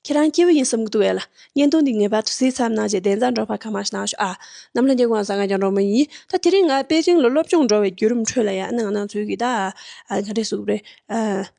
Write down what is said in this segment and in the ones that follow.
ཁྱེད་རང་སྐྱེས་བུ་ཡིན་བསམ་གི་འདུག་བལ། གཉེན་སྟོན་འདི་ངེས་པར་དུ་བཟི་མཚམས་གནང་རྗེས་བདེན་རྫ་འབྲོག་པ་གང་མང་ཞིག་གནང་ཞོག་ཨ། ནམ་ལྷན་རྒྱལ་གང་ཟག་ང་རྒྱ་འབྲོག་མོ་ཡིན། ད་དེ་རིང་ང་པེ་ཅིང་ལ་སློབ་སྦྱོང་འགྲོ་བའི་བརྒྱུད་རིམ་ཁྲོད་ལ་ཡང་གནང་གནང་ཚུལ་གྱི་ད། ག་རེ་གཟུགས་རེད།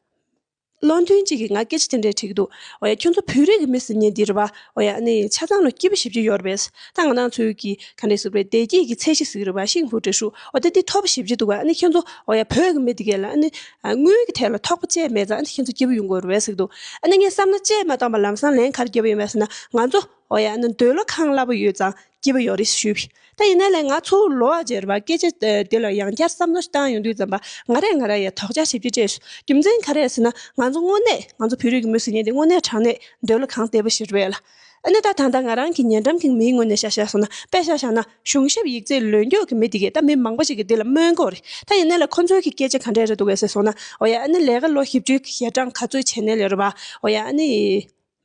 བློ་མཐུན་གཅིག་གིས་ང་སྐད་ཆ་དེ་འདྲས་དྲིས་འདུག་འོ་ཡ་ཁྱོད་ཚོ་བོད་རིགས་ཀྱི་མི་སི་ཉེ་འདིར་བ་འོ་ཡ་ནི་ཆ་ཚང་ལོ་སྐྱིད་པོ་བཞི་བཅུ་ཡོད་རེད་པས། ད་གནང་གནང་ཚུལ་གྱི་ག་རེ་གཟུགས་རེད་བདེ་སྐྱིད་ཀྱི་ཚད་གཞི་ཟིག་རེད་བ་ཤིང་ཕུ་བྲེ་ཧྲུག་འོ་ད་འདི་ཐོ་བ་བཞི་བཅུ་འདུག་བ་ཨ་ནི་ཁྱོད་ཚོ་འོ་ཡ་བོད་ཀྱི་མི་འདི་གས་ལ་ཨ་ནི། དངུལ་གྱི་ཐད་ལ་ཐོག་པ་བཅས་མེད་ཙང་ཁྱེད་ཚོ་སྐྱིད་པོ་ཡོང་དགོས་རེད་ཟེར་འདུག་ཨ་ནི་ངས་བསམ་ན་བཅད་མ་བཏང་པར་ལམ་སང་ལན་གར་རྒྱབ་ཡོང་བས་ཟེར་ན་ང་ཚོ་ཨོ་ཡ་ནི་འདོད་བློ་ཁང་སླ་པོ་ཡོད་ཙང་སྐྱིད་པོ་ཡོང་རེད་ཞུས་བས་ད་ཡིན་ན་ལས་ང་ཚོ་ལོ་བ་བརྗེ་རུ་བ་སྐད་ཆ་དེ་ལ་ཡང་བསྐྱར་བསམ་བློ་བཏང་ཡོང་དུས་ཙམ་པ་ང་རེད་ང་ར་ཡ་དོག་ཅག་བྱེད་རྒྱུ་བཅས་སུ་རྒྱུ་མཚན་ག་རེད་ཟེར་ན་ང་ཚོ་དངོས་གནས་ང་ཚོ་བོད་རིགས་མི་ཟེར་ཉེན་དེ་དངོས་གནས་དྲང་གནས་འདོད་བློ་ཁང་ལྟེ་བ་ཞིག་རེད་ལ། ཨ་ནི་ད་ཐང་ད་ང་རང་གི་ཉེ་འགྲམ་གྱི་མིའི་ངོས་ནས་བཤད་བཤད་སོང་ན་དཔེ་ཤ་བཞག་ན་གཞུང་ཞབས་ཡིག་རྩིས་ལོས་འགྱོག་གི་མི་དེ་གས་ད་མི་མང་པོ་ཞིག་གི་འདི་ལ་སྨོན་གོ་རེ་ད་ཡིན་ནའི་ལ་ཁོ་ཚོའི་གི་སྐད་ཆ་ག་འདྲས་རེ་འདུག་གས་ཟེར་སོང་ན་འོ་ཡ་ཨ་ནི་ལས་ཀ་ལོ་ཞིབ་ཅུའི་གི་ཞལ་གྲངས་ག་ཚོད་བྱས་ནའི་ལས་རོ་བ་འོ་ཡ་ཨ་ནི་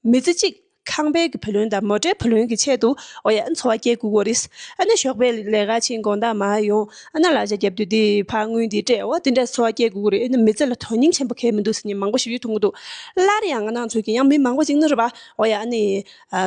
མི་ཚེ་གཅིག་ཁང་པའི་གི་བུ་ལོན་དང་མོ་ཏྲའི་བུ་ལོན་གི་ཆེད་དུ་འོ་ཡ་ཨ་ནི་འཚོ་བ་སྐྱེལ་དགོས་གོ་རེ་ཨ་ནི་ཞོགས་པའི་ལས་ཀ་ཆེན་དགོངས་དག་མ་ཡོང་ཨ་ན་ལག་ཆ་རྒྱབ་དུས་དེ་ཕར་དངུལ་འདི་སྤྲད་འོ་དེ་འདྲས་འཚོ་བ་སྐྱེལ་དགོས་གོ་རེ་ཨ་ནི་མི་ཚེ་ལ་དོན་སྙིང་ཆེན་པོ་གས་མི་འདུག་ཟེར་མྱི་མང་པོ་ཞིག་ཡོད་ཐུག་གི་འདུག་སླར་ཡང་ང་ནང་ཚོས་གི་ཡང་མི་མང་པོ་ཞིག་ནི་རེ་བ། ཨོ་ཡ་ཨ་ནི།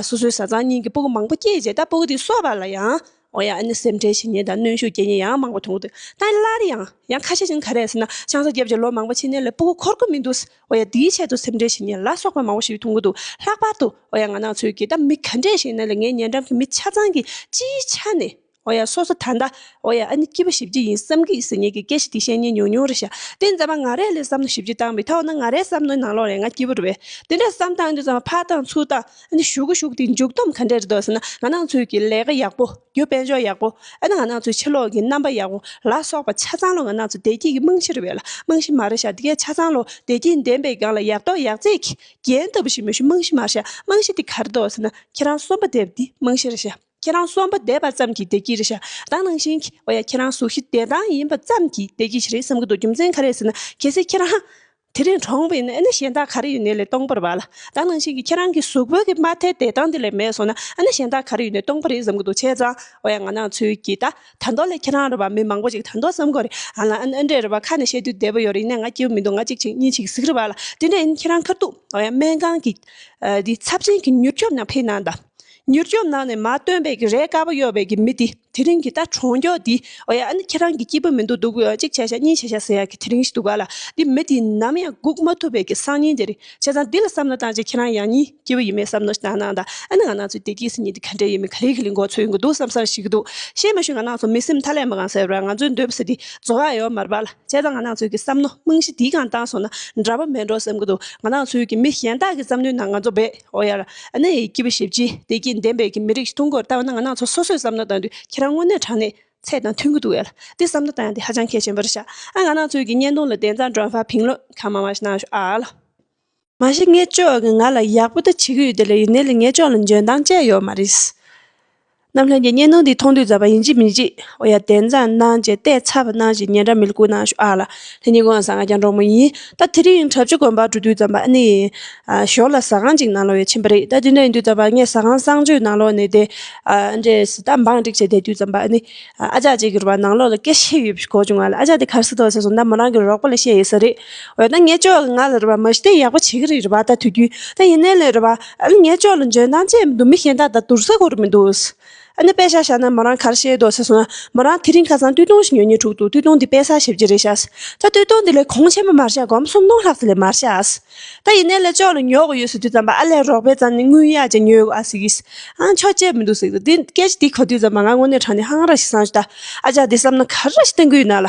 སོ་སོའི་བཟའ་ཚང་གཉིས་ཀྱི་སྤུ་གུ་མང་པོ་སྐྱེས་རྗེས་ད་སྤུ་གུ་དེ་སོ་བ་ལ་ཡང། ཨོ་ཡ་ཨ་ནི་སེམས་ཁྲལ་བྱེད་ཉེན་དང་གནོན་ཤུགས་སྐྱེ་ཉེན་ཡང་མང་པོ་འཐོང་འདུག་ད་སླར་ཡང། ཡང་ཁ་ཤས་ཀྱིས་ག་རེ་ཟེར་ན་ཆང་ས་བརྒྱབ་རྗེས་ལོ་མང་པོ་ཕྱིན་ནས་ལས་སྤུ་གུ་འཁོར་གི་མི་འདུག་ཨོ་ཡ་དེའི་ཆེད་དུ་སེམས་ཁྲལ་བྱེད་ཉེན་ལ་སོགས་པ་མང་པོ་ཞིག་འཐོང་གི་འདུག་ལྷག་པར་དུ་ཨོ་ཡ་ང་ནག་ཚོས་ཀྱིས་ད་མི་ག་འདྲས་ཤེས་ན་ལས་ངའི་ཉེ་འགྲམ་གྱི་མི་ཆ་ཚང་གིས་སྤྱིའི་ཆ་ནས་འོ་ཡ་སོ་སོ་ད་ལྟ། འོ་ཡ་ཨ་ནི་སྐྱིད་པོ་བྱེད་རྒྱུ་ཡིན་བསམ་གི་ཟེར་ཉེས་ཀྱི་སྐད་ཤི་དེ་བཤད་ཉེས་ཉུང་ཉུང་རེད་ཤག་དེ་མཛད་པ་ང་རས་ལས་བསམ་བློ་ཞིབ་ཀྱིས་བཏང་མི་ཐའོ་ན་ང་རས་བསམ་བློའི་ནང་ལོག་རེད་ང་སྐྱིད་པོ་རེད་བས་དེ་འདྲས་བསམ་བཏང་རྒྱུ་ཙམ་ཕ་བཏང་ཚུལ་བཏང་ཨ་ནི་ཞུ་གི་ཞུགས་དེའི་མཇུག་སྡོམ་ག་འདྲས་རེད་འདོད་ཟེར་ན་ང་ནང་ཚུལ་གྱི་ལས་ཀ་ཡག་པོ་རྒྱུ་དཔལ་འབྱོར་ཡག་པོ་ཨ་ན་ང་ནང་ཚུལ་ཕྱི་ལོག་གི་རྣམ་པ་ཡག་པོ་ལ་སོགས་པ་ཆ་ཚང་ལོ་ང་ནང་ཚུལ་བདེ་སྐྱིད་ཀྱི་རྨང་གཞི་རེད་བས་ལ་རྨང་གཞི་མ་རེད་ཤག་འདི་གའི་ཆ་ཚང་ལོ་བདེ་སྐྱིད་ལྡན་པའི་སྒང་ལ་ཡག་ཐོག་ཡག་བརྩེགས་ཀྱི་རྒྱན་ལྟ་བུ་ཞིག་མི་ཞུ་རྨང་གཞི་མ་རེད་ཤག་རྨང་གཞི་དེ་ག་རེད་འདོད་ཟེར་ན་ཁྱེད་རང་གསོན་པོ་བསྡད་པ་འདི་རྨང་གཞི་རེད་ཤག། ཁྱེད་རང་གསོན་པ་བསྡད་པ་ཙམ་གྱིས་བདེ་སྐྱིད་རེད་ཞདང་ནང་བཞིན་གྱི་བ་ཡ་ཁྱེད་རང་གཟུགས་གཞི་བདེ་ཐང་ཡིན་པ་ཙམ་གྱིས་བདེ་སྐྱིད་ཞིག་རེད་བསམ་གྱི་འདུག་རྒྱུ་མཚན་ག་རེད་ཟེར་ན་གལ་སྲིད་ཁྱེད་རང་དེ་རིང་གྲོངས་པའི་ནས་ཨ་ན་གཞན་དག་ག་རེ་ཡོད་ནས་ལས་སྟོང་པར་བ་ལ་ལྡང་ནང་བཞིན་གྱི་ཁྱེད་རང་གི་གཟུགས་བོད་ཀྱི་མ་མཐའི་བདེ་ཐང་དེ་ལས་མེད་སོང་ན་ཨ་ན་གཞན་དག་ག་རེ་ཡོད་ནས་སྟོང་པ་རེད་བསམ་གྱི་འདུག་བྱས་ཙང་བ་ཡ་ང་ནང་ཚུལ་གྱིས་ད་ད་མདོ་ལས་ཁྱེད་རང་རེད་བ་མི་མང་པོ་ཅིག་ད་མདོ་བསམ་གོ་རེད་ཨ་ལ་ཨ་ཨ་འདྲས་རེད་བ་ཁ་ནས་བཤད་དུས་བདེ་པོ་ཡོད་རེད་ཡིན་ནས་ང་སྐྱིད་པོ་མི་འདུག་ང་ཅིག་ཅིག་གཉིས་ཅིག་གཟིགས་རེད་བ་ལ་དེ་འདྲས་ཡིན་ཁྱེད་རང་ཁར་འདུག་བ་ཡ་སྨན་ཁང་གི་འདི་ཚབས་ཆེན་གྱི་མྱུར་སྐྱོབ་ནང་ཕེབས་གནང་དང། མྱུར་སྐྱོབ་གནང་ནས་མ་བཏོན་པའི་ཀྱི་རས་དཀར་པོ་གཡོགས་པའི་ཀྱི་མི་དེ་དེ་རིང་གི་ད་གྲོང་མགྱོགས་འདི་ཨོ་ཡ་ཨ་ནི་ཁྱེད་རང་གི་སྐྱིད་པོ་མི་འདུག་འདུག་གཅིག་བྱས་ཤག་གཉིས་བྱས་ཤག་ཟེར་ཡག་གི་དེ་རིང་ཞིག་འདུག་ག་ལ་འདི་མི་དེ་ནམ་ཡང་སྒུག་མ་ཐུབ་པའི་ཀྱི་སང་ཉིན་དེ་རིང་བྱས་ཙང་འདི་ལ་བསམ་བློ་བཏང་རྗེས་ཁྱེད་རང་ཡང་གཉིས་སྐྱིད་པོ་ཡིན་མེད་བསམ་བློ་ཞིག་བཏང་གནང་ད་ཨ་ནི་ང་ནང་ཚོའི་བདེ་སྐྱིད་སེམས་ཉིད་དེ་ག་འདྲས་ཡོད་མེད་ག་ལེ་གི་ལེ་འགོག་ཚོད་ཡོད་གི་འདུག་བསམ་བསམ་ཞིག་གི་འདུག་ཤེས་མ་ཤེས་ང་ནང་ཚོ་མི་སེམས་མཐའ་ཀླས་མ་གང་ཟེར་བར་ང་ཚོའི་འདོད་པ་ཟེར་དེ་རྫོགས་ཡག་ཡོད་མ་རེད་པ་ལ་བྱས་ཙང་ང་ནང་ཚོའི་ཀྱི་བསམ་བློ་རྨང་གཞི་དེ་གང་བཏང་སོང་ན་འདྲ་པོ་མེད་འགྲོ་བསམ་གི་འདུག་ང་ནང་ཚོའི་ཀྱི་མི་གཞན་དག་གི་བསམ་བློའི་ནང་ང་ཚོ་འབད། ཨོ་ཡ། གནས་ཡི་སྐྱེས་བུ་ཞེས་བགྱི། བདེ་སྐྱིད་ལྡན་པའི་གྱི་མི་རིགས་ཀུན་གོར་ལྟ་བ་ན་ང་ནག་ཚོ་སོ་སོས་བསམ་བློ་བཏང་དུས་ཁྱེད་རང་དངོས་གནས་དྲང་གནས་ཚད་དང་མཐུན་གི་འདུག་ཨེ་ལ། འདི་བསམ་བློ་བཏང་ཡང་དེ་ཧ་ཅང་གལ་ཆེན་པོ་རེད་ཤག་ཨ། ང་ནག་ཚོའི་གྱི་བརྙན་ཐུང་ལ་དེ་མཚམས་དྲོན་ཧྥ་བྷིང་ལོད་ཁ་མ་མ་ཞིག་གནང་ཤོག་ཨ་ལ། མ་གཞི་ངས་ཅོག་གི་ང་ལ་ཡག་པོ་ད་བྱེད་གི་ཡོད་དེ་ལ་ཡིན་ནའི་ལ་ངས་ཅོག་ལ་འཇོན་ཐང་བཅས་ཡོད་མ་རེད། རྣམ་ལྷན་གྱི་གཉེན་སྣང་འདི་མཐོང་དུས་ཛར་བ་ཡིན་གཅིག་མིན་གཅིག་ཨོ་ཡ་དེ་འཛར་སྣང་ཅན་ལྟས་ཚ་བ་སྣང་ཞིག་ཉན་ར་མི་ཀུ་ན་ཤོ་ཨ་ལ་ལྷན་གཉིས་ཀུན་ང་ཟ་ང་རྒྱང་འབྲོག་མོ་ཡིན་ད་དེ་རིང་བྲབ་ཅི་དགོན་པར་འགྲོ་དུས་ཛར་བ་ཨ་ནི་ཡིན་ཞོར་ལ་ཟ་ཁང་གཅིག་ནང་ལོག་ཡས་ཕྱིན་པ་རེད་ད་དེ་འདྲ་ཡིན་དུས་ཛར་བ་ངས་ཟ་ཁང་གསང་སྤྱོད་ནང་ལོག་ནས་བསྡད་ཨ་འདྲས་ཟི་ད་འབངས་སྒྲིག་བྱས་བསྡད་དུས་ཛར་བ་ཨ་ནི་ཨ་ཅག་ཅིག་གིས་ར་བ་ནང་ལོག་ལ་སྐད་བཤད་ཡོད་པའི་གོ་བྱུང་ང་ལ་ཨ་ཅག་དེ་གར་སི་ཐོག་ཟེར་སོང་ད་མོ་རང་གི་རོགས་པ་ལ་བཤད་ཡོད་ས་རེད་འོ་ད་ངས་ཅོག་ང་ལ་ར་བ་མ་ཤི་སྟེ་ཡག་པོ་བྱེད་ཀྱི་རེད་ར་བ་ད་དུས་རྒྱུན་ད་ཡིན་ནའི་ལོས་ར་བ། ཨ་ནི་ངའི་ཅོག་ལ་འཇོན་ཐང་ཅན་མི་འདུག་མི་གཞན་དག་དང་དུར་ས་གོ་རེ་མི་འདུག། ཨ་ནི་དཔེ་ཞག་བཞག་ན་མོ་རང་གར་ཤེས་འདོག་ཟེར་སོང་ན་མོ་རང་དེ་རིང་ཁ་སང་བཏུས་སྟོང་ཞིག་ཉོས་ཉེ་དྲུག་འདུག་བཏུས་སྟོང་འདི་དཔེ་ས་ཞིབ་ཀྱི་རེད་བཞག་ད་བཏུས་སྟོང་འདི་ལས་གོང་ཆེན་པོ་མར་བཞག་སྒོམ་གསུམ་སྣང་ལྷག་ཚེ་ལས་མར་བཞག་ད་ཡིན་ནའི་ལས་ཅོག་ལ་ཉོ་གི་ཡོད་ཟེར་དུས་ཙམ་པ་ཨ་ལས་རོགས་པའི་ཙམ་ནས་དངུལ་གཡར་ཅིག་ཉོས་གི་ཟིག་གིས་ཨང་ཆོག་བཅད་མི་འདུག་ཟེར་གི་འདུག་དེ་སྐད་ཅིག་དེ་གོ་དུས་ཙམ་པ་ང་དངོས་གནས་དྲང་ནས་ཧང་ར་ཞིག་བསམ་ཞིག་ད་ཨ་ཅག་འདི་བསམ་ན་ག་ར་ཞིག་བསྟན་གི་ཡོད་ན་ལ།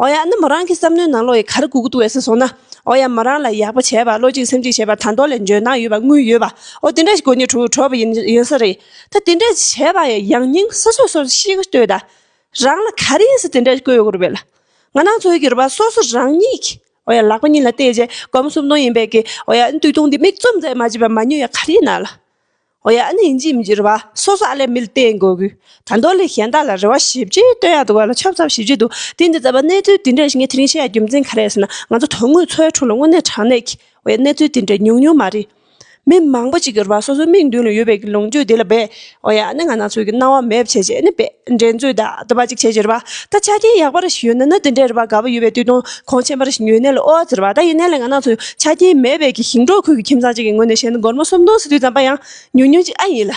ཨོ་ཡ་ནི་མོ་རང་གི་བསམ་མནོའི་ནང་ལོ་ཡི་གར་གུག་ཏུ་འེ་སྲིད་སོང་ན། ཨོ་ཡ་མོ་རང་ལ་ཡག་པོ་བྱས་པ་བློ་གཅིག་སེམས་གཅིག་བྱས་པ་དང་ཏོ་ལས་འཇོན་ཐང་ཡོད་པ་དངུལ་ཡོད་པ་ཨོ་དེ་འདྲ་ཞིག་གོ་ནི་གྲུ་གྲོགས་པོ་ཡིན་ཡིན་ས་རེད་ད་དེ་འདྲ་བྱས་པ་ཡང་ཡང་སྙིང་སོ་སོས་སོར་ཤིག་ལྟོས་ད། རང་ལ་ག་རེ་ཡིན་ས་དེ་འདྲ་བཀོད་ཡོད་རེད། ང་ནང་ཚོས་གི་རུ་བ་སོ་སོ་རང་ཉིད་ཀྱི་ཨོ་ཡ་ལག་པ་གཉིས་ལ་བལྟས་རྗེས་སྒོམ་གསུམ་སྟོང་ཡིན་པས་གི་ཨོ་ཡ་འདུག་སྟོང་འདི་མིག་བཙུམ་ཚད་མ་བྱས་པ་མ་ཉོས་ཡ་ག་རེ་ཡིན་ན་ལ། ཨོ་ཡ་ཨ་ནི་འཇིགས་མི་འགྱུར་བ་སོ་སོ་ཨ་ལས་མི་ལ་བསྟེན་དགོས་གི། ད་མདོ་ལས་གཞན་དག་ལ་རེ་བ་ཞིབ་ཅིག་བཏོན་ཡག་འདུག་བ་ལ་ཆབ་ཚབ་ཞིབ་ཅིག་འདུག་དེ་འདི་ཙམ་པ་གནས་ཚུལ་དེ་འདྲ་ཞིག་ངས་དེ་རིང་བཤད་ཡག་རྒྱུ་མཚན་ག་རེད་ཟེར་ན་ང་ཚོ་དོན་དངོས་འཚོའི་ཁྲོད་ལ་དངོས་གནས་དྲང་གནས་ཀྱི་ཨོ་ཡ་གནས་ཚུལ་དེ་འདྲ་ཉུང་ཉུང་མ་རེད། མི་མང་པོ་ཅིག་གི་རེ་བ་སོ་སོའི་མིག་མདུན་ལ་ཡོད་པའི་གི་ལོངས་སྤྱོད་དེ་ལ་འབད་ཨོ་ཡ་ཨ་ནི་ང་ནག་ཚོའི་གི་སྣང་བ་མེད་བྱེད་ཅིག་ཨ་ནི་འབད་འགྲན་རྩོད་ད་འདི་པ་ཅིག་བྱེད་ཅིག་རེ་བ་ད་ཆ་རྐྱེན་ཡག་པ་རེ་ཞིག་ཡོད་ན་ནི་དེ་འདྲའི་རེ་བ་དགའ་བ་ཡོད་པའི་དུས་དང་ཁོང་ཆེན་པར་ཉོའི་གནས་ལ་ཨོ་ཨ་ཟེར་བ་ད་ཡིན་གནས་ལ་ང་ནག་ཚོས་ཆ་རྐྱེན་མེད་པས་ཀྱི་ཞིང་འབྲོག་ཁུལ་གྱི་ཁྱིམ་ཚང་གཅིག་གི་ངོས་ནས་བཤད་ན་སྒོར་མོ་སུམ་སྟོང་ཟིན་དུས་ཙམ་པ་ཡང་ཉུང་ཉུང་ཅིག་ཨ་ཡིན་ལ།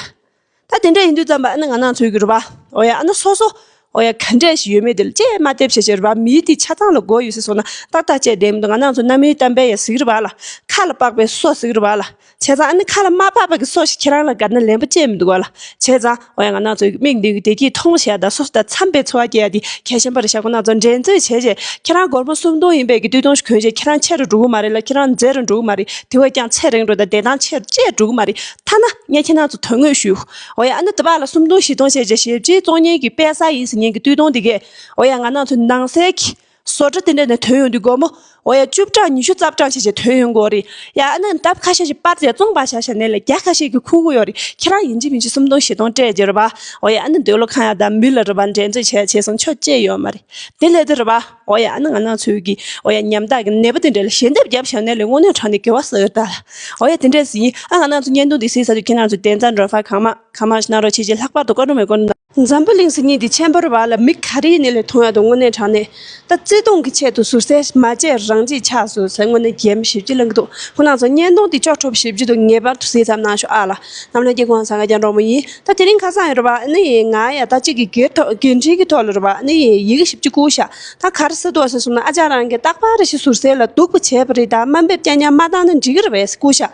ད་དེ་འདྲ་ཡིན་དུས་ཙམ་པ་ཨ་ན་ང་ནག་ཚོས་ཀྱི་རུ་བ་ཨོ་ཡ་ཨ་ན་སོ་སོ་ཨོ་ཡ་ག་འདྲ་ཞིག་ཡོད་མེད་དེ་ལ་ཅེས་སྨྲ་ལྟས་བྱེད་བྱེད་རུ་བ་མིའི་དེའི་ཆ་ཚང་ལ་སྒོ་ཡོད་སྲིད་སོང་ན་ཏག་ཏག་བཅད་བསྡད་མི་འདུག་ང་ནག་ཚོ་གནའ་མིའི་གཏམ་དཔེ་ཡང་གཟིགས་རུ་བ་ལ་ཁ་ལ་དཔག་པའི་སོ་གཟིགས་རུ་བ་ལ། བྱས་ཙང་ཨ་ནི་ཁ་ལ་མ་བབས་པ་གི་སོ་ཞིག་ཁྱེད་རང་ལ་དགའ་ན་ལན་པོ་བསྐྱེད་མི་འདུག་ལ། བྱས་ཙང་ཨོ་ཡ་ང་ནག་ཚོའི་མིག་འདི་གི་བདེ་སྐྱིད་ཐོང་ཞེ་ཡ་ད་སོ་སོ་ད་འཚམས་པའི་འཚོ་བ་སྐྱེལ་ཡ་དེ་གལ་ཆེན་པ་རེད་ཞག་པོ་ནག་ཚོ་འགྲན་རྩོད་བྱས་རྗེས་ཁྱེད་རང་སྒོར་མོ་སུམ་སྟོང་ཡིན་པའི་གི་བདུན་སྟོང་ཞིག་གོན་རྗེས་ཁྱེད་རང་ཆེ་རུ་འགྲོ་གི་མ་རེད་ལ་ཁྱེད་རང་མཛེས་རུ་འགྲོ་གི་མ་རེད་དེ་བས་ཀྱང་ཚད་རིང་རུ་དང་བདེ་ཐང་ཆེ་རུ་བཅས་འགྲོ་གི་མ་རེད་ཐ་ན་ངས་ཁྱེད་རང་ཚོ་དོན་དངོས་ཞུ་ཨོ་ཡ་ཨ་ནི་ད་བར་ལ་སུམ་སྟོང་བཞི་སྟོང་བྱས་རྗེས་ཞེ་བརྗེའི་གཙོ་གཉེར་གི་དཔལ་ས་ཡིན་ཟེར་ཉིན་གི་བསྟུད་སྟོང་དེ་གས་ཨོ་ཡ་ང་ནག་ཚོའི་ནང་སའི་གི། བཟོ་གྲྭ་དེ་འདྲ་ནས་དོན་ཡོང་དུས་སྒོར་མོ་འོ་ཡ་བཅུ་བགྲངས་ཉི་ཤུ་རྩ་བགྲངས་བྱས་རྗེས་དོན་ཡོང་དགོས་རེད་ཡ། ཨ་ནང་འདབ་ཁ་ཤས་ཤིག་སྤར་རྗེས་བཙོང་བར་བྱ་བྱས་ནས་ལས་རྒྱ་ཁ་ཤས་ཀྱི་ཁུག་ཁུག་ཡོད་རེད་ཁྱེད་རང་ཡིན་གཅིག་མིན་གཅིག་སུམ་སྟོང་བཞི་སྟོང་སྤྲད་རྗེས་རེད་པ་འོ་ཡ་ཨ་ནི་འདོད་བློ་ཁང་ཡག་དང་མི་ལ་རེད་པ་འགྲན་རྩོད་བྱས་བྱས་སོང་ཆོས་བྱེད་ཡོད་མ་རེད་དེ་སླད་དུ་རེད་པ་འོ་ཡ་ཨ་ནི་ང་ནང་ཚུད་ཀྱི་འོ་ཡ་ཉམ་ཐག་གི་ནད་པ་དེ་འདྲ་ལ་ཞལ་འདེབས་བརྒྱབ་བྱས་ནས་ལས་དངོས་གནས་དྲངས་ནས་གེ་བ་ཟ་ཡོད་ད་ལ་འོ་ཡ་དེ་འདྲས་ཟིན་ཨ་ང་ནང་ཚུད་བརྙན་ཐུང་དེ་གཟིགས་ས་དུས་ཁྱེད་རང་ཚོས་དེ་འཛར་འགྲོ་ཕར་གང་མང་གང་མང་གནང་རོགས་བྱས་རྗེས་ལྷག་པར་དུ་བཀའ་དྲུང་མེད་སྐོར་གནང། འཛམ་བུ་གླིང་སྲིད་གཉིས་ཀྱི་ཁྱད་འཕགས་བར་ལ་མི་ག་རེའི་ནད་ལས་མཐོང་ཡ་དུ་དངོས་གནས་དྲག་ནས། ད་བརྩེ་དུང་གི་ཆེད་དུ་ཟུར་ཟས་མ་བཅད་རང་གཅེས་ཆགས་སོ་ཟེར་དངོས་གནས་རྒྱལ་མོ་ཞེ་བརྒྱུད་ལང་གི་འདུག་ཁོ་ནང་ཚོ་བརྙན་ཐུང་དེ་ཅོག་ཁྲོབ་ཞེ་བརྒྱུད་དུ་ངེས་པར་དུ་གཟིགས་ཙམ་གནང་ཞོག་ཨ་ལ། ནམ་ལྷན་རྒྱལ་ཁོང་ཟ་ཁ་གྱ་འགྲོག་མོ་ཡིན་ད་དེ་རིང་ཁ་སང་ཡོད་རོ་བ་ཨ་ནི་ཡིན་ང་ཡ་ད་གཅིག་གི་འགན་འཁྲི་གི་ཐོག་ལ་རོ་བ་ཨ་ནི་ཡིན་ཡི་གེ་ཞིབ་ཅིག་བསྐུར་ཤག་ད་ག་རེ་ཟེར་འདུག་ཟེར་སོང་ན་ཨ་ཅག་རང་གིས་རྟག་པར་རེ་ཞིག་ཟུར་ཟས་ལ་སྡུག་པ་བྱས་པ་རེད་ད་དམའ་འབེབས་སྐྱ་ཉམས་མ་བཏང་ན་འགྲིག་གི་རེད་བས་བསྐུར་ཤག།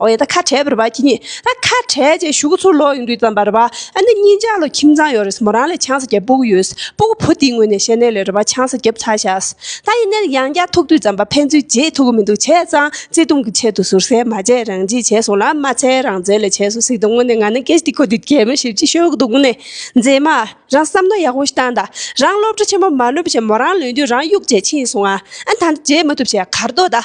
ཨོ་ཡ་ད་ཁ་བྲལ་བར་བ་ཁྱི་གཉིས་ད་ཁ་བྲལ་རྗེས་བཞུགས་ཚུར་ལོག་ཡོང་དུས་ཙམ་བར་བ་ཨ་ནི་གཉིས་འཇག་ལོ་ཁྱིམ་ཚང་ཡོད་རེད་མོ་རང་ལས་ཆང་ས་རྒྱབ་སྤུ་གུ་ཡོད་སྤུ་གུ་བུ་དེའི་ངོས་ནས་བཤད་ནས་ལས་རེ་བ་ཆང་ས་རྒྱབ་ཚར་ཤགས་ད་ཡིན་ནའི་ཡང་བསྐྱར་ཐུག་དུས་ཙམ་བར་ཕན་ཚུན་རྗེས་ཐུག་གི་མི་འདུག་བྱས་ཙང་བརྩེ་དུང་གི་ཆེད་དུ་ཟུར་ཟའི་མ་བྱས་རང་བྱས་བྱས་སོང་ལ་མ་ཚད་རང་བཙན་ལས་བྱས་སོང་ཟིག་དང་ངོ་ནས་ང་ནི་ཀེ་སྟི་ཁོ་དེ་གད་མོ་ཞིབ་ཅིག་ཤོད་འདུག་ནས་མཛེས་མ་རང་བསམ་ནོ་ཡག་པོ་ཞིག་བཏང་ད་རང་སློབ་གྲ་ཆེན་པོ་མ་ལོན་པའི་ཕྱིར་མོ་རང་ལོན་དུས་རང་གཡུག་བྱས་ཕྱིན་སོང་ཨ་ད་འདི་བརྗེད་མ་ཐུབ་བྱས་གར་འདོད་ད།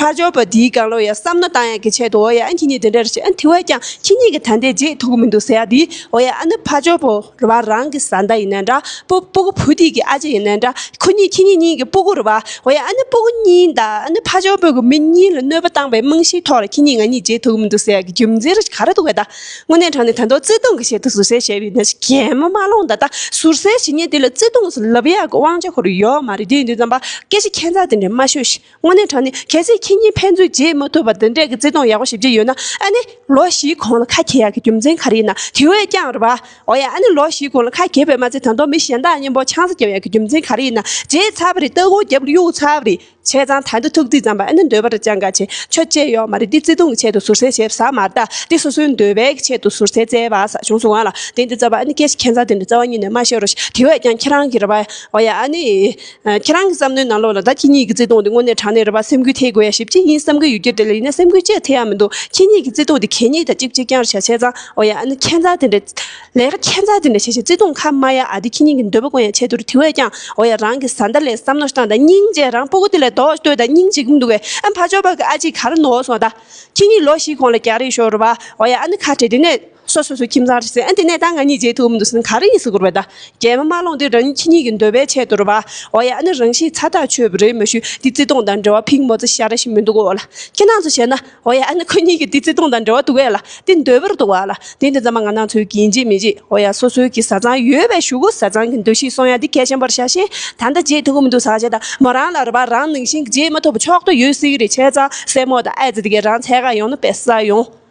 ཕར་ཕྱོགས་པ་དེའི་དགང་བློ་ཡང་བསམ་ན་དང་ཡང་གི་ཆེད་དུ་འོ་ཡ་ཨ་ཁྱེད་གཉིས་འདི་འདྲ་རེ་བྱས་ཨ་འཐི་བས་ཀྱང་ཁྱེད་གཉིས་ཀྱི་ད་ལྟའི་རྗེས་ཐུག་གི་མི་འདུག་ཟེར་ཡ་དེས་འོ་ཡ་ཨ་ནི་ཕར་ཕྱོགས་པོ་རི་བ་རང་གི་བཟའ་ཟླ་ཡིན་ན་འདྲ་པོ་སྤུ་གུ་བུ་དེས་ཀྱི་ཨ་ཅེ་ཡིན་ན་འདྲ་ཁོ་གཉིས་ཁྱེད་གཉིས་གཉིས་ཀྱི་སྤུ་གུ་རི་བ་འོ་ཡ་ཨ་ནི་སྤུ་གུ་གཉིས་འདའ་ཨ་ནི་ཕར་ཕྱོགས་པོས་གི་མི་གཉིས་ལ་གནོད་པ་བཏང་པའི་རྨང་གཞིའི་ཐོག་ལ་ཁྱེད་གཉིས་ང་གཉིས་རྗེས་ཐུག་གི་མི་འདུག་ཟེར་ཡ་གི་རྒྱུ་མཚན་རེ་ག་རེ་འདུག་བས་ད་དངོས་གནས་དྲང་ནས་དང་ཐོག་བརྩེ་དུང་གི་ཆེད་དུ་ཟུར་ཟའི་བྱས་པའི་ན་ཆེ་གད་མོ་མ་སློང་ད་ལྟ་ཟུར་ཟའི་བྱས་ཉེས་དེ་ལ་བརྩེ་དུང་སུ་ལབ་ཡ་གི་དབང་ཆ་ཁོ་རུ་ཡོད་མ་རེད་དེ་ཡིན་དུས་རྩམ་པ་སྐད་ཆ་ཁྱད་མཚར་དེ་འདྲ་མ་ཤོད་ཤི། དངོས་གནས་དྲང་གནས་གལ་སྲིད་ཁྱེད་གཉིས་ཕན་ཚུན་བརྗེད་མ་ཐུབ་པར་འདི་འདྲའི་བརྩེ་དུང་ཡག་པོ་ཞིག་བརྗེ་ཡོད་ན་ཨ་ནི། ལོ་བཞིའི་གོང་ལ་ཁ་གྱེས་ཡག་གི་རྒྱུ་མཚན་ག་རེ་ཡིན་ན་དེ་བས་ཀྱང་རེད་པ། འོ་ཡ་ཨ་ནི་ལོ་བཞིའི་གོང་ལ་ཁ་གྱེས་པས་མ་ཚད་དང་ཐོག་མི་གཞན་དག་གཉེན་པོ་ཆང་ས་རྒྱབ་ཡག་གི་རྒྱུ་མཚན་ག་རེ་ཡིན་ན་བརྗེད་ཚར་བ་རེད་སྟ་གོ་རྒྱབ་གཡུག་ཚར་བ་རེད། བྱས་ཙང་ད་འདི་ཐུགས་རྩིས་ཙམ་པ་ཨ་ནི་འདོད་པ་འདྲ་ཅང་ག་བྱེད་ཆོ་བཅས་ཡོག་མ་རེད་འདི་བརྩེ་དུང་གི་ཆེད་དུ་ཟུར་ཟའི་ཞེབ་ས་མ་རྟ་འདི་སོ་སོའི་འདོད་པའི་གི་ཆེད་དུ་ཟུར་ཟའི་བརྩེ་བ་ས་ཆུང་སུ་འང་ལ་དེ་འདི་རྩ་བ་ཨ་ནི་སྐད་ཆ་ཁྱད་མཚར་དེ་འདྲ་རྩ་བ་ཉིད་ནས་མ་བཤད་རོགས་ཞེས་དེ་བས་ཀྱང་ཁྱེད་རང་གི་རེད་པ། འོ་ཡ་ཨ་ནི། ཁྱེད་རང་གི་བསམ་མནོའི་ནང་ལོགས་ལ་ད་ཁྱེད་གཉིས་ཀྱི་བརྩེ་དུང་དེ་དངོས་གནས་དྲང་གནས་རེད་པ་སེམས་འགུལ་ཐེབས་དགོས་ཡ་ཞིབ་ཅིག་ཡིན་བསམ་གི་ཡོད་ཀྱི་དེ་ལ་ཡིན་ན་སེམས་འགུལ་ཅི་ཡང་ཐེབས་ཡ་མི་འདུག་ཁྱེད་གཉིས་ཀྱི་བརྩེ་དུང་དེ་གད་སྙིགས་དང་གཅིག་བྱེད་རྐྱང་རེད་བྱ་བྱས་ཙང་འོ་ཡ་ཨ་ནི་ཁྱད་མཚར་དེ་འདྲ། ལས་ཀ་ཁྱད་མཚར་དེ་འདྲ་བྱས་བྱས་བརྩེ་དུང་ཁ་མ་ཡ་ཨ་དེ་ཁྱེད་གཉིས་ཀྱི་འདོད་པ་དགོན་ཡ་ཆད་དུ་རུ་དེ་བས་ཀྱང་འོ་ཡ་རང་གི་བཟའ་ཟླ་ལས་བསམ་མནོ་བཏང་དང་སྙིང་རྗེ་རང་སྤོ་གོ་དེ་ལས་ལྡོག་ལྟོས་དང་སྙིང་རྗེ་གི་མི་འདུག་བས་ཨ་ཕ་ཅོག་པ་གི་ཨ་ཅིག་ག་རེ་ནོར་སོང་ད། ཁྱེད་གཉིས་ལོ་ཞིག་གོང་ལ་རྒྱག་རེ་ཤོག་རུ་བ་འོ་ཡ་ཨ་ནི་ཁ་བྲལ་དེ་ནས། སོ་སོ་སོའི་ཁྱིམ་ཚང་རེད་ཟེར། དེ་ནས་ད་ང་གཉིས་མཇལ་ཐུབ་མི་འདུག་ཟེར་ན་ག་རེ་ཡིན་ཟེར་དགོས་པ་ད། རྒྱལ་མོ་མ་ལོངས་དུས་རང་ཉིད་ཁྱི་གཉིས་ཀྱི་འདོད་པའི་ཆེད་དུ་རེད་པ། འོ་ཡ་ཨ་ནི་རང་བཞིན་ཚ་ཐག་ཆོད་པོ་རེད་མ་ཞུས་དེ་བརྩེ་དུང་དང་འབྲེལ་བ་ཕིག་མོ་རྩི་ཤ་རེ་ཞིག་མི་འདུག་གོ་ལ། ཁྱེད་རྣམས་ཚོས་བྱས་ན། འོ་ཡ་ཨ་ནི་ཁོ་གཉིས་ཀྱི་དེ་བརྩེ་དུང་དང་འབྲེལ་བ་འདུག་གས་ལ། དེ་འདོད་པོ་རེད་འདུག་ག་ལ། དེ་ནི་ཚང་མ་ང་ནང་ཚོས་གྱིས་མཇལ་མི་མཇལ་འོ་ཡ་སོ་སོའི་གི་བཟའ་ཚང་ཡོད་པས་ཞུ་གོ་བཟའ་ཚང་གི་འདོད་གཤིས་སོང་ཡ་དེ་གལ་ཆེན་པོར་ཆགས་ཤིང་ད་ལྟ་མཇལ་ཐུབ་མི་འདུག་ཟག་བྱས་ད་མོ་རང་ལ་རེད་པ་རང་ནང་བཞིན་གྱི་མཇལ་མ་ཐུབ་པ་ཕྱོགས་ཏུ་ཡོད་སྲིད་གི་རེད་བྱས་ཙང་སྲས་མོ་དང་ཨ་ཙི་དེ་གས་རང་ཚད་ག་ཡོང་ན་བས་ས་ཡོང།